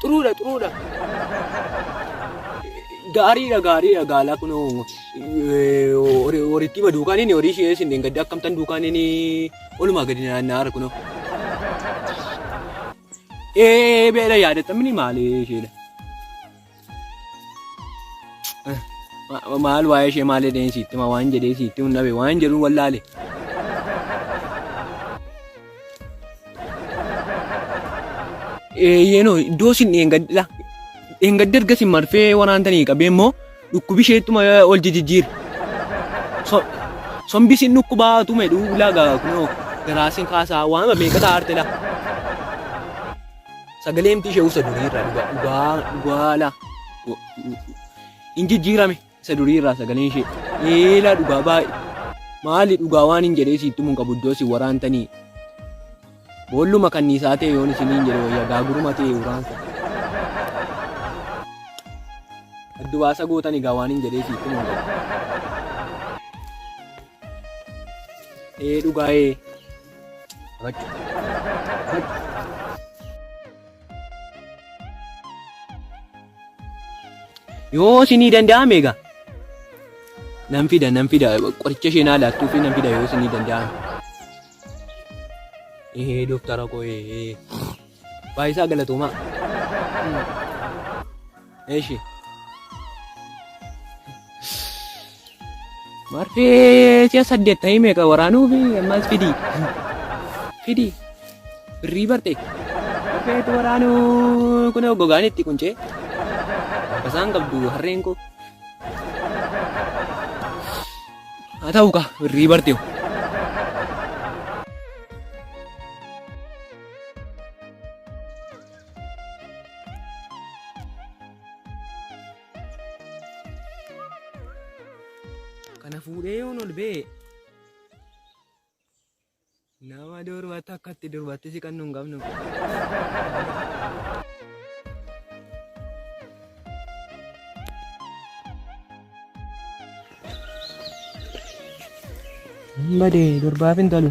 Xuruudha xuruudha. Gaariidha gaariidha gaalaa kun horiitti hima duukaan inni horii ishee isin gadda akkamtan duukaan inni olumaa gadi naanna'aa jira kunoo. Ee beela yaadatamni maali isheedha. Maal waa'ee ishee maal jedheen siitti ma waan jedhee siitti hin dhabe waan jedhu wallaale. Yeenoo iddoo isin dheengaddidha. Dheengaddi erga isin marfee waraantanii qabee immoo dhukkubi isheettuma ol jijjiira. Sombi isin dhukkubaa tume dhuulaa gaa kunoo garaa isin kaasaa waan meeqa taa'arte laa. Sagalee miti ishee isa durii irraa dhugaa dhugaa dhugaa laa. Hin jijjiirame isa durii irraa sagalee ishee. Eelaa dhugaa baay'ee. Maali dhugaa waan hin jedhee siittu mun qabu iddoo si waraantanii. Boolluma kanniisaa ta'e yoon isiniin jedhe wayyaa gaaguruma ta'e uraan. Addu baasa gootan egaa waan hin jedhee siittu mun qabu. Ee dhugaa ee. Yoo isinii danda'ame egaa nan fida nan fida qoricha isheen haa laattuu fi nan fida yoo isinii danda'ame. Ee dooktara koo ee baay'isaa galatoomaa. Eshi. Marfee si'a saddeet ta'ii meeqa waraanuu fi ammas fidii. Fidii. Birrii barte. Marfee itti waraanuu kun gogaan itti quncee. Basaan qabdu harreen koo. Haa ta'u kaa birrii barte. kana fuudhee yoon ol ba'e nama durbatti akkatti durbatti siqannu hin qabnu. Hin badee durbaaf hin talu.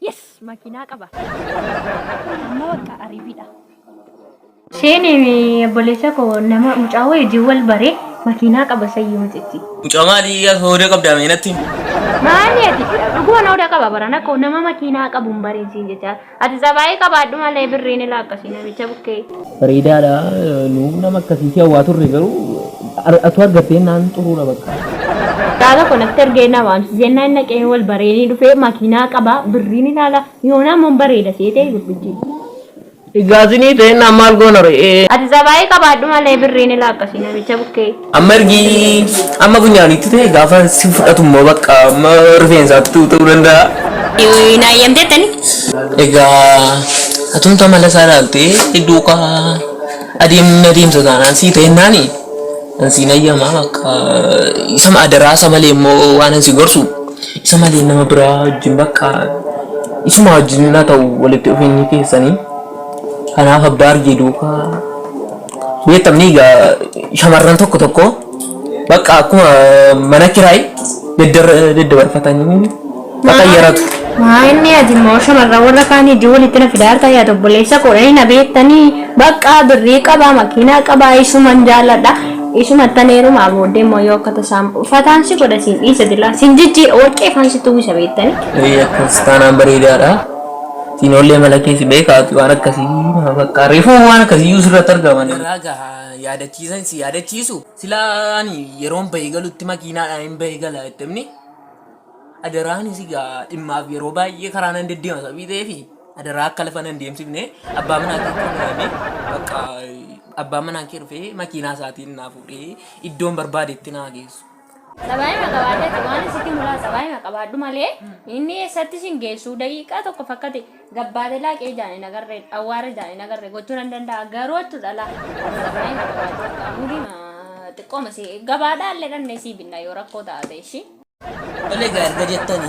Yes makiinaa qaba. Amma bakka ariibiidha. Isheen obboleessa koo nama mucaa wajjin wal bare makiinaa qaba sayyuu mucichi. Mucaa maali hooda qabdaa mee natti? Maali ati dhuguma hooda qaba barana koo nama makiinaa qabu hin bareen siin jechaa. Ati sabaayii qabaadhu malee birriin ilaa akkasii namicha bukkee. Bareedaadha nuuf nama akkasii si hawwaa turre garuu ar- atuu argattee naan xuruudha bakka. Mucaa tokko natti ergee na waamsise jennaan inni dhaqee wal baree ni dhufee makiinaa qaba birriin ilaala yoonaa immoo hin bareeda seetee gurbichi. Egaa sinii ta'e naan maal goona re'ee. Ati zabaayii qabaadhu malee birriin ilaa akkasii namicha bukkee. Amma ergi amma funyaanitti ta'e gaafa si fudhatu immoo bakka amma rifeensaattu ta'uu danda'a. Hin hayyamteettani? Egaa atumtu amala isaa ilaaltee iddoo kaa adeemni adeemsa taanaan sii ta'e naani an siin hayyamaa bakka isa adaraa isa malee immoo waan si gorsu isa malee nama biraa wajjin bakka isuma wajjin na ta'u walitti dhufeenyi keessanii kanaaf abbaa argee duukaa Beektamni shamarran tokko tokko bakka akkuma mana kiraay daddabarfatanii bakka yaratu. Maa inni ati immoo shamarran warra kaan ijoo walitti na fidaa harkaa yaada obboleessa koo inni na beektanii bakka birrii qabaa makiinaa qabaa isuman jaalladha isuma taneerumaa booddee immoo yoo akka tasaa fataan si godha siin dhiisa dilaa siin jijjiira warqee faan sitti uwwisa beektanii. Akkas taanaan bareedaadha. Siinollee mala kee si beeka ati waan akkasii nama bakka reefuu waan akkasii iyyuu sirratti argamanii. Irraa gaha yaadachiisa hin si yaadachiisu. Silaa ani yeroon bahee galutti makiinaadhaan hin bahee gala jettemni. Adaraa ani si gaa dhimmaaf yeroo baay'ee karaa nan deddeema sabii ta'eef adaraa akka lafa nan deemsifne abbaa manaa kee kee muraame bakka abbaan manaa kee dhufee makiinaa isaatiin naa fuudhee iddoon barbaadetti naa geessu. Sabaayima qabaadhate waan isitti mulaa sabaayima qabaadhu malee inni eessatti isin geessuu daqiiqaa tokko fakkate gabbaate laaqee ijaan hin agarre awwaara ijaan hin agarre gochuu nan danda'a garuu achu dhala sabaayima qabaadhu qaamudi xiqqooma si gabaadhaa illee dhannee sii binna yoo rakkoo taate ishii. Tole egaa erga jettani.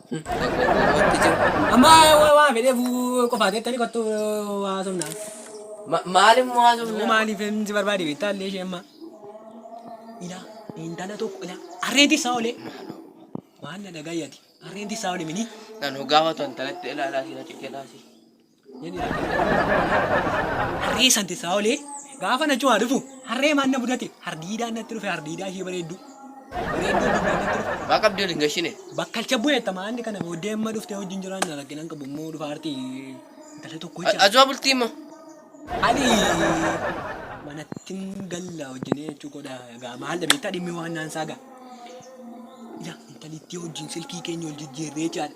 Amma waa fedhee fuu qofaa keettani kottu waa somnaa. Maalin moo haa somnaa? Maaliif hin si barbaade beektaa illee ishee amma. Ilaa intala tokko ilaa harreen tissaa olee. Waan na dhagayyati harreen tissaa olee minii. Nan hogaafatu intalatti ilaalaa si na ciqilaa si. Inni harree santi isaa olee gaafa na cuwaa dhufu harree maan na mudate hardiidaan natti dhufe hardiidaa ishee bareedduu. Bareedduu dubbaan natti dhufe. Waa qabdi waliin gashine. Bakkalcha bu'eetta maanni kana booddee amma dhuftee wajjin jiraan na rakkinan qabu immoo dhufa artii intala tokko jecha. Azuwaa bultii immoo. Ani manattin galla wajjin jechuu godha egaa maal dhabeettaa dhimmi waan naan saaga. Ila intalittii wajjin silkii keenya wal jijjiirree jaadha.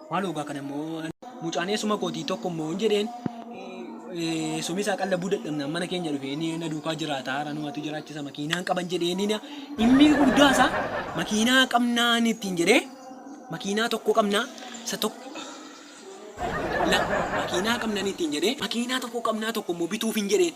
Maaloo gaa kana immoo mucaan eessuma kootii tokko immoo hin jedheen eessumni isaa qallabuu dadhabnaan mana keenya dhufee ni na duukaa jiraata haara numatu jiraachisa makiinaan qaban jedhee ni na inni guddaa isaa makiinaa qabnaan ittiin jedhee makiinaa tokko qabnaa isa tokko la makiinaa qabnaan ittiin jedhee makiinaa tokko qabnaa tokko immoo bituuf hin jedheen.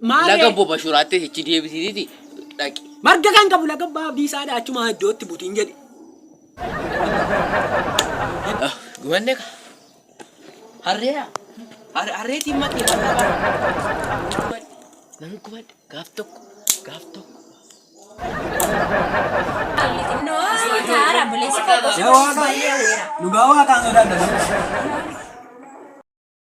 Maaree. Laga Obbo Bashuraatti hichi deebisiiti dhaqi. Marga kan qabu laga abbaa abdii isaadha achuma iddootti butiin jedhe. Gumanne ka. Harree yaa. Harree timma timma. Nan gumanne gaaf tokko gaaf tokko. Dhugaa waaqaan sodaadha.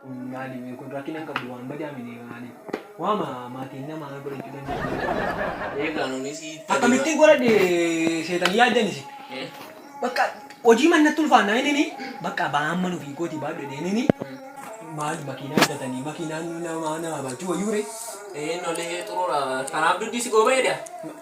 Funyaani mee kun rakkina hin qabdu waan badaa minee maali waama maatiin namaa godhachuu danda'an. Eegaa nuuni si itti Akkamittiin godhadhe seexanii yaaddan isin. Bakka hojii mannatti ulfaannaa inni bakka ba'aan manu fi kooti baadhu jedheen inni maal makiinaa bitatanii makiinaan nama nama baachuu wayyuu ree. Eennolee xurura kanaaf duddi si gooba edaa.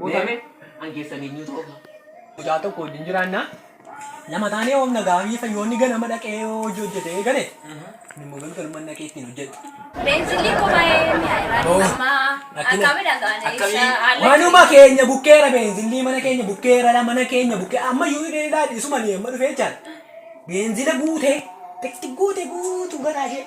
Guutame an keessan eenyu ta'u. Mucaa tokko wajjin jiraanna. Lama taanee oomna gaafii fayyoonni ganama dhaqee yoo hojii hojjetee gale. Inni immoo galgaluma dhaqee ittiin hojjetu. Beenzilii koo baay'ee mi'aayira. Hoo. Amma Akkami- akkami dhagaane akkamii- ibsa haala Manuma keenya bukkeera beenzilii mana keenya bukkeera la mana keenya bukkee amma iyyuu hidhee ilaali isuma ni amma dhufee jechaan beenzila guutee xiqqi guute guutu garaa ishee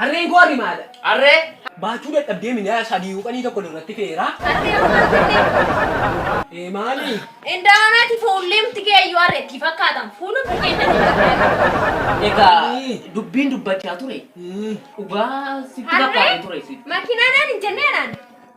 Harreen koo harri maala. Harree. Baachuu dadhabdee mindaa sadii yuuqanii tokko irratti feeraa. Harree harree harree. Ee maali? Indaanati fuullimti kee iyyuu harree itti fakkaatan fuulumti kee itti fakkaatan. Egaa dubbiin dubbachaa ture dhugaa sitti fakkaate ture. Harree makinaa naan hin jennee naan.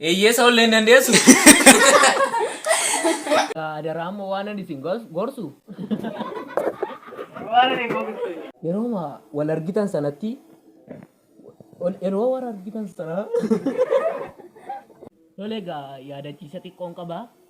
Eeyyee isa ollee hin dandeessu. Adaraa amma waanan isin gorsu. Yeroo wal argitan sanatti yeroo wal argitan sana. Tole egaa yaadachiisa xiqqoon qaba.